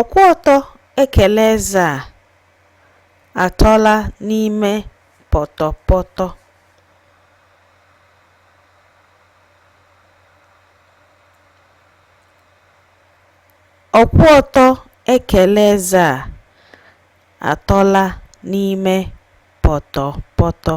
Ọkwụ ọtọ ekele eze a atọla n'ime pọtọpọtọ. Ọkwụ ọtọ ekele eze a atọla n'ime pọtọpọtọ.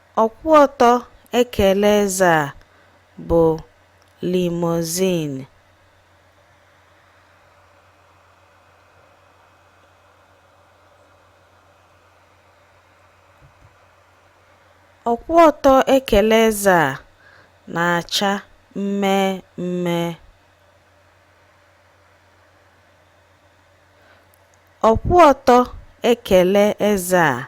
Ọkwụ ọtọ ekele eze a bụ limousine. Ọkwụ ọtọ ekele eze a na-acha mmee mmee. Ọkwụ ọtọ ekele eze a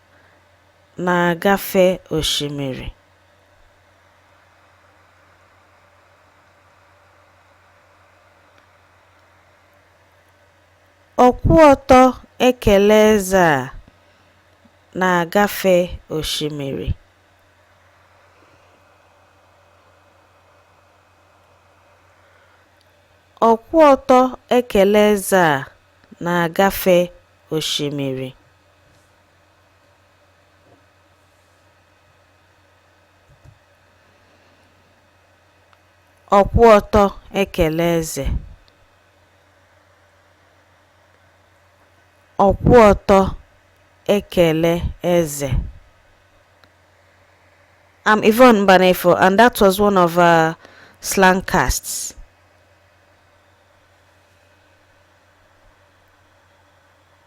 na-agafe osimiri. Ọkwụ ọtọ ekele eze a na-agafe osimiri. Ọkwụ ọtọ ekele eze a na-agafe osimiri. ọkwụ ọtọ ekele eze ọkwụ ọtọ ekele eze I'm Yvonne Mbanefo and that was one of our slang casts.